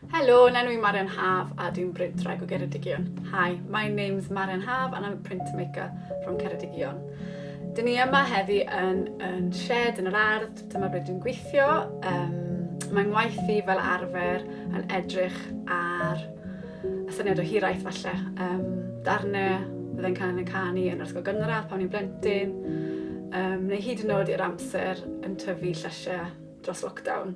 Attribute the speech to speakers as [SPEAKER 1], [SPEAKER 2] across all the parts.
[SPEAKER 1] Helo, na nwi Marian Haf a dwi'n brintraig o Geredigion. Hi, my name's Marian Haf and I'm a printmaker from Ceredigion. Dyn ni yma heddi yn, yn shed yn yr ardd, dyma ble dwi'n gweithio. Um, mae ngwaith i fel arfer yn edrych ar y syniad o hiraeth falle. Um, darnau fydde'n cael yn canu yn yr ysgol gynradd pan ni'n blentyn, um, neu hyd yn oed i'r amser yn tyfu llysiau dros lockdown.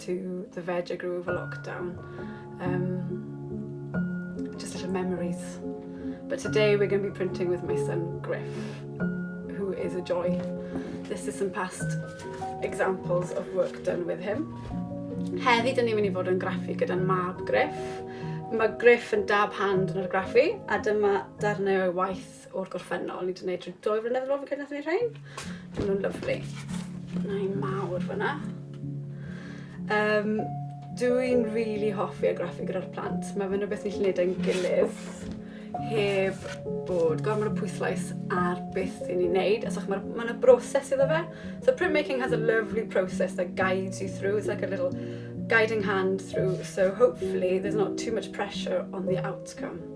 [SPEAKER 1] to the veg I grew over lockdown. Um, just little memories. But today we're going to be printing with my son Griff, who is a joy. This is some past examples of work done with him. Heddi, dyn ni'n mynd i fod yn graffu gyda'n mab Griff. Mae Griff yn dab hand yn yr graffu, a dyma darnau o'i waith o'r gorffennol. Ni wedi gwneud trwy dwy flynedd yn ôl fi'n credu nath ni rhain. Maen nhw'n lyflu. Na i mawr fyna. Um, Dwi'n rili really hoffi a graffu gyda'r plant. Mae fe'n rhywbeth ni'n gwneud e'n gilydd heb bod gormod o pwyslais ar beth i ni'n neud. Os mae'r ma yna broses iddo fe. So printmaking has a lovely process that guides you through. It's like a little guiding hand through. So hopefully there's not too much pressure on the outcome.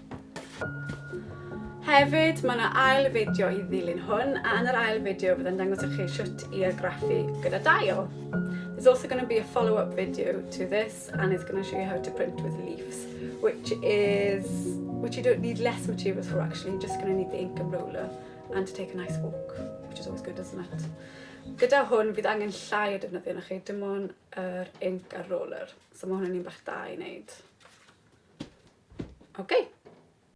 [SPEAKER 1] Hefyd, mae yna ail fideo i ddilyn hwn, a yn yr ail fideo byddai'n dangos i chi sut i argraffu gyda dail. There's also going to be a follow-up video to this, and it's going to show you how to print with leaves, which is which you don't need less materials for actually, you're just going to need the ink and roller and to take a nice walk, which is always good, isn't it? Gyda hwn, bydd angen llai o defnyddio na chi, dim ond yr ink a'r roller. So ma' hwn yn un bach da i neud. Ok.